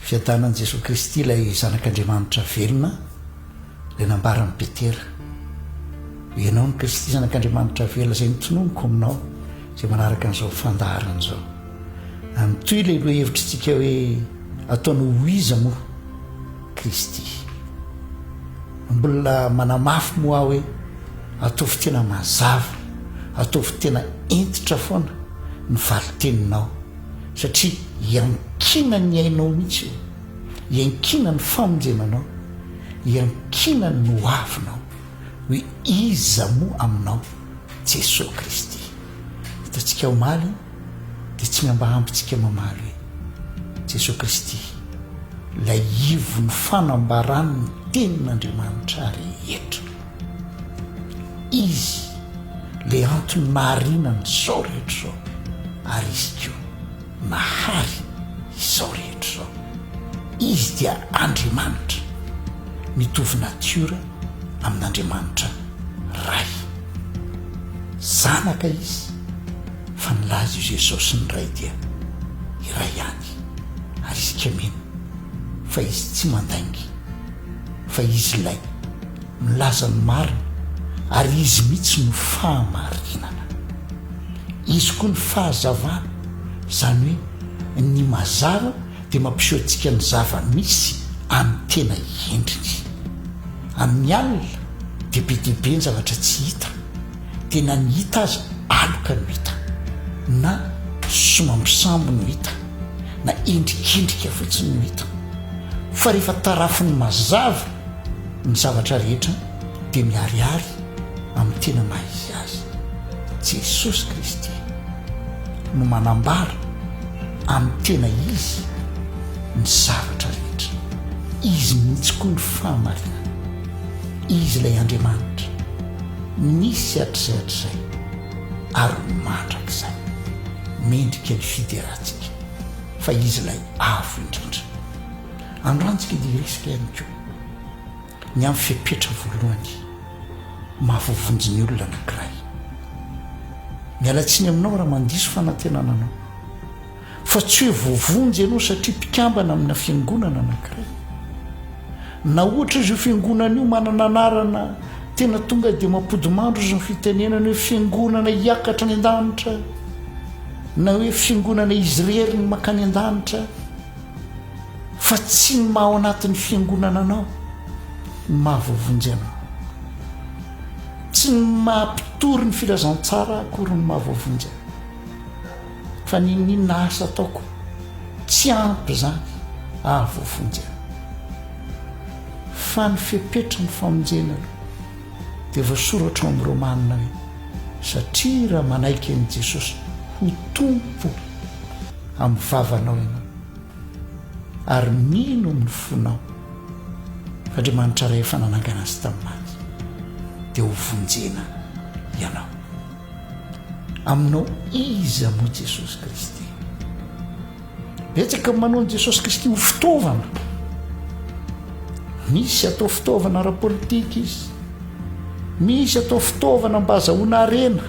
Fiadanan'i Jesoa Kristy ilay Zanak'Andriamanitra velona, dia nambaran'i Petera, Ianao no Kristy, Zanak'Andriamanitra velona, izay notononiko aminao, izay manaraka an'izao fandaharana izao. Amin'itoy ilay lohevitr'itsika hoe ataony ho iza moa Kristy. Mbola manamafy moa aho hoe ataovy tena mazava, ataovy tena hentitra foana ny valin-teninao. satria iankinany ny ainao mihitsy io, iankinany ny famonjenanao, iankinany ny ho avinao, hoe iza moa aminao Jesoa Kristy. Hitantsika omaly dia tsy mba ampintsika mamaly hoe Jesoa Kristy, ilay ivon'ny fanambaran'ny tenin'Andriamanitra rehetra. Izy le antony mahariana an'izao rehetra izao ary Izy koa mahary izao rehetra izao. Izy dia Andriamanitra, mitovy natiora amin'Andriamanitra Ray. Zanaka Izy fa nilaza io Jesosy sy ny Ray dia iray ihany ary isika mino fa Izy tsy mandainga fa Izy ilay milaza ny marina ary Izy mihitsy no fahamarinana. Izy koa ny fahazavana, izany hoe ny mazava dia mampiseho antsika ny zava-misy amin'ny tena endriny. Amin'ny alina dia be dia be ny zavatra tsy hita, dia na ny hita aza aloka no hita, na somambisamby no hita, na endrikendrika fotsiny no hita. Fa rehefa tarafin'ny mazava Ny zavatra rehetra dia miharihary amin'ny tena maha izy azy. Jesosy Kristy no manambara amin'ny tena izy ny zavatra rehetra. Izy mihitsy koa ny fahamarinana. Izy ilay Andriamanitra nisy hatrizay hatrizay ary mandrakizay. Mendrika ny fideratsika fa Izy ilay Avo Indrindra. Andranjika dia hiresaka ihany koa ny amin'ny fepetra voalohany maha voavonjy ny olona anankiray. Miala tsiny aminao raha mandiso fanantenana anao, fa tsy hoe voavonjy ianao satria mpikambana amina fiangonana anankiray. Na ohatra aza io fiangonana io manana anarana tena tonga dia mampodimandry ozy ny fitenenana hoe fiangonana hiakatra any an-danitra na hoe fiangonana izy irery ny makany an-danitra, Fa tsy ny maha ao anatin'ny fiangonana anao no maha voavonjy anao. Tsy ny maha mpitory ny filazantsara akory no maha voavonjy ahy. Fa ny inona asa ataoko tsy ampy izany haha voavonjy ahy. Fa ny fepetra ny famonjena aloha. Dia voasoratra ao amin'ny Romana hoe, satria raha manaiky an'i Jesosy ho Tompo. amin'ny vavanao ianao ary mino amin'ny fonao Andriamanitra Ray efa nanangana azy tamin'ny maty dia ho vonjena ianao. Aminao iza moa Jesosy Kristy? Betsaka ny manao an'i Jesosy Kristy ho fitaovana. Misy atao fitaovana ara-politika izy. Misy atao fitaovana mba azahoana harena,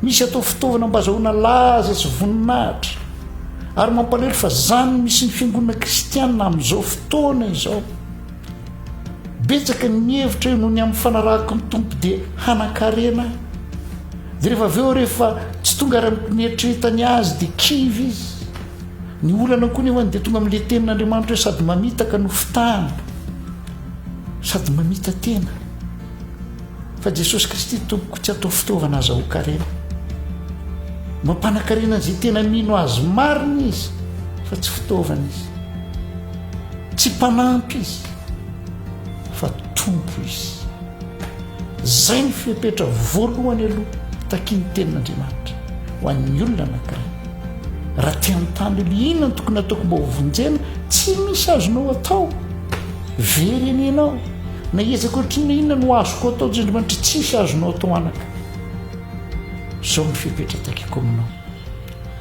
misy atao fitaovana mba azahoana laza sy voninahitra, ary mampalahelo fa izany no misy ny fiangonana kristianina amin'izao fotoana izao. Betsaka ny mihevitra io noho ny amin'ny fanarahako ny Tompo dia hanan-karena aho. Dia rehefa avy eo rehefa tsy tonga ary amin'ny mieritreretany azy dia kivy izy. Ny olana koa nefany dia tonga amin'ilay tenin'Andriamanitra hoe sady mamitaka no fitahana. sady mamita tena fa Jesosy Kristy Tompoko tsy atao fitaovana azahoan-karena. Mampanakarena izay tena mino azy marina izy fa tsy fitaovana izy. Tsy mpanampy izy fa Tompo izy. Izay no fepetra voalohany aloha takian'ny Tenin'Andriamanitra ho an'ny olona anankiray. Raha te hanontany hoe inona no tokony hataoko mba ho vonjena, tsy misy azonao atao. Very eny ianao, na hiezaka ohatry ny inona no azoko atao hoy Andriamanitra, tsisy azonao atao anaka. Izao no fepetra takiako aminao,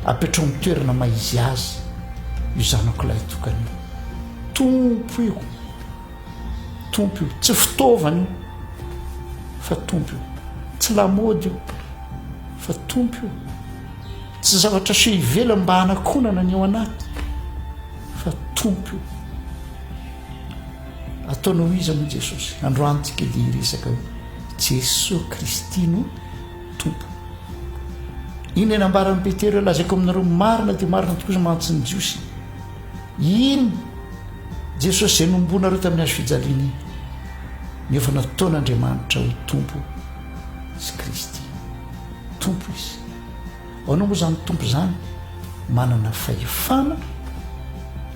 apetraho amin'ny toerana maha izy azy io zanako lahy tokana io. Tompo io. Tompo io, tsy fitaovana io fa Tompo io, tsy lamaody io fa Tompo io, tsy zavatra aseho ivelany mba hanakonana ny ao anaty fa Tompo io. Ataonao ho iza moa Jesosy? Androantsika dia hiresaka hoe Jesosy Kristy no Tompo. Iny nambaran'i Petera hoe lazaiko aminareo marina dia marina tokoa izay mantsin'ny Jiosy. Iny Jesosy izay nohomboanareo tamin'ny hazo fijaliana iny no efa nataon'Andriamanitra ho Tompo sy Kristy. Tompo Izy. Ahoana moa izany Tompo izany? Manana fahefana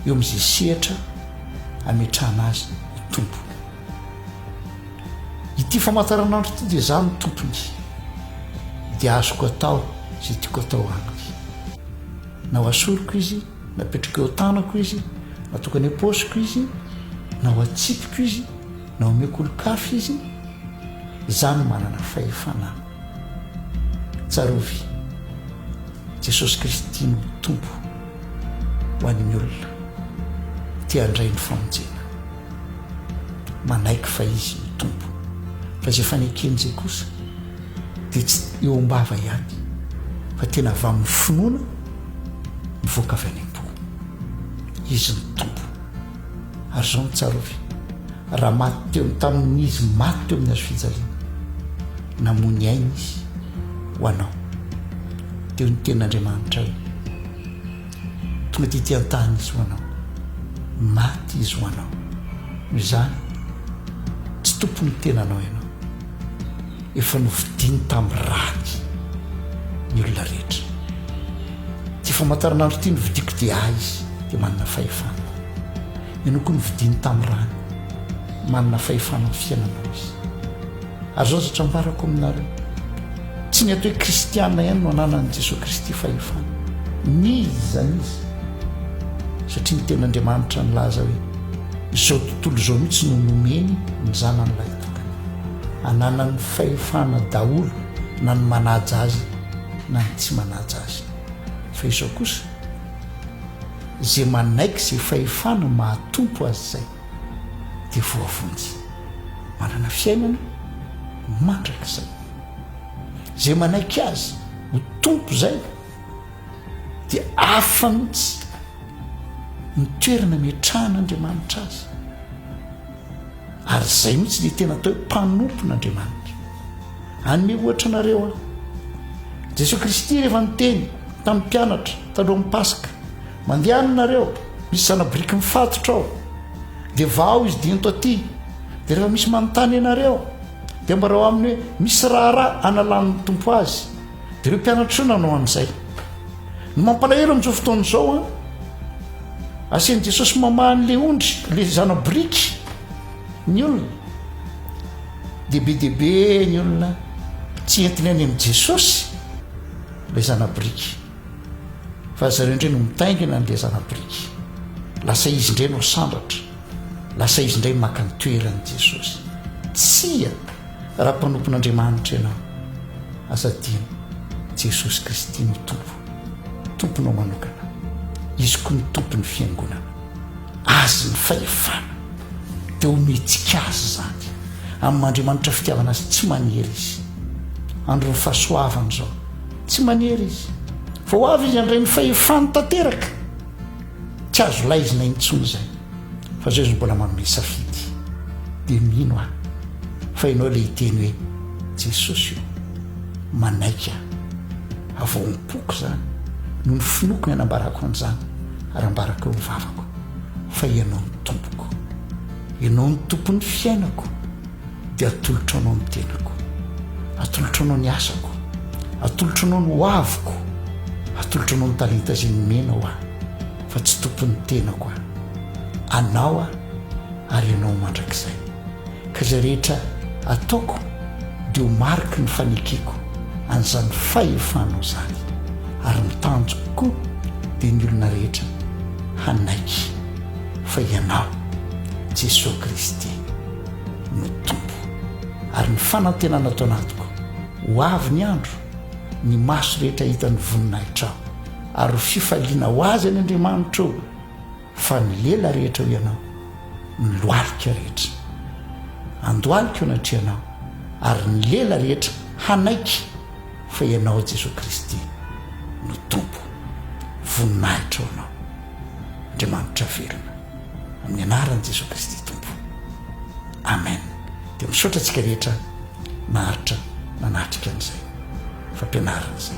eo amin'izay sehatra ametrahana Azy ho Tompo. Ity famantaranandro ity dia izaho no Tompony, dia azoko atao izay tiako atao Aminy. Na ho asoriko Izy, Napetrako eo an-tanako izy, natokana eo paosiko izy, na ho atsipiko izy, na omeko olon-kafa izy, izaho no manana fahefana. Tsarovy, Jesosy Kristy no Tompo ho an'ny olona te handray ny famonjena. Manaiky fa Izy no Tompo, fa izay fanekeny izay kosa, dia tsy eo am-bava ihany fa tena avy amin'ny finoana mivoaka avy any am-po. Izy ny Tompo. Ary izao no tsarovy, raha maty teo tamin'ny Izy maty teo amin'ny hazofijaliana, namoy ny ainy Izy ho anao. Teo ny Tenin'Andriamanitra io. Tonga dia ity an-tany Izy ho anao. Maty Izy ho anao. Noho izany, tsy tompon'ny tenanao ianao. Efa novidiany tamin'ny rany ny olona rehetra. Ity famantaranandro ity novidiako dia ahy izy dia manana fahefana. Ianao koa novidiany tamin'ny rany, manana fahefana amin'ny fiainanao izy. Ary izao izatra ambarako aminareo, tsy ny ato hoe kristiana ihany no ananan'i Jesoa Kristy fahefana. N'iza izany izy? Satria ny tenin'Andriamanitra nilaza hoe, Izao tontolo izao mihitsy no nomeny ny Zanany lahy. ananan'ny fahefana daholo na ny manaja azy na ny tsy manaja azy fa izao kosa izay manaiky izay fahefana mahatompo azy izay dia voavonjy manana fiainana mandrakizay izay manaiky azy ho tompo izay dia afa mihitsy ny toerana miatrahana andriamanitra azy Ary izay mihitsy dia tena atao hoe mpanompon'Andriamanitra. Hanome ohatra anareo aho. Jesoa Kristy rehefa niteny tamin'ny mpianatra talohan'ny Paska, mandehana nareo, misy zanabiriky mifatotra ao, dia vahao izy dia ento aty, dia rehefa misy manontany anareo, dia ambarao aminy hoe misy raharaha analan'ny Tompo azy, dia ireo mpianatra ireo nanao an'izay. Ny mampalahelo amin'izao fotoana izao an, Asian'i Jesosy mamaha an'ilay ondry, ilay zana-boriky, ny olona. Dia be dia be ny olona tsy entiny any amin'i Jesosy ilay zana-boriky. Fa ry zareo indray no mitaingina an'ilay zana-boriky. Lasa izy indray no sandratra. Lasa izy indray maka ny toeran'i Jesosy. Tsia, raha mpanompon'Andriamanitra ianao, aza adino, Jesosy Kristy no Tompo. Tomponao manokana. Izy koa ny Tompon'ny Fiangonana. Azy ny fahefana. Dia omentsika Azy izany. Amin'ny maha-Andriamanitra fitiavana Azy, tsy manery Izy. Andron'ny fahasoavana izao. Tsy manery Izy. Fa ho avy Izy handray ny fahefany tanteraka. Tsy azo laizina intsony izay. Fa izao Izy mbola manome safidy. Dia mino aho. Fa ianao ilay hiteny hoe, Jesosy o, manaiky aho. Havaom-poko izany no ny finoako ny hanambarako an'izany, ary ambarako eo ny vavako, fa Ianao no Tompoko. Ianao no Tompon'ny fiainako, dia atolotro Anao ny tenako. Atolotro Anao ny asako. Atolotro Anao ny hoaviko. Atolotro Anao ny talenta izay nomenao ahy, fa tsy Tompon'ny tenako aho. Anao aho, ary Ianao mandrakizay. Ka izay rehetra ataoko dia ho mariky ny fanekeko an'izany fahefana izany, ary ny tanjoko koa dia ny olona rehetra hanaiky fa Ianao, Jesoa Kristy, no Tompo. Ary ny fanantenana ato anatiko, ho avy ny andro, ny maso rehetra hahita ny voninahitrao, ary ho fifaliana ho azy any Andriamanitra ô! Fa ny lela rehetra eo Ianao, ny lohalika rehetra andohalika eo anatrehanao, ary ny lela rehetra hanaiky fa Ianao Jesoa Kristy no Tompo. Voninahitra ho Anao, Andriamanitra velona, amin'ny anaran'i Jesoa Kristy Tompo. Amen. Dia misaotra antsika rehetra naharitra nanatrika an'izay fampianarana izay.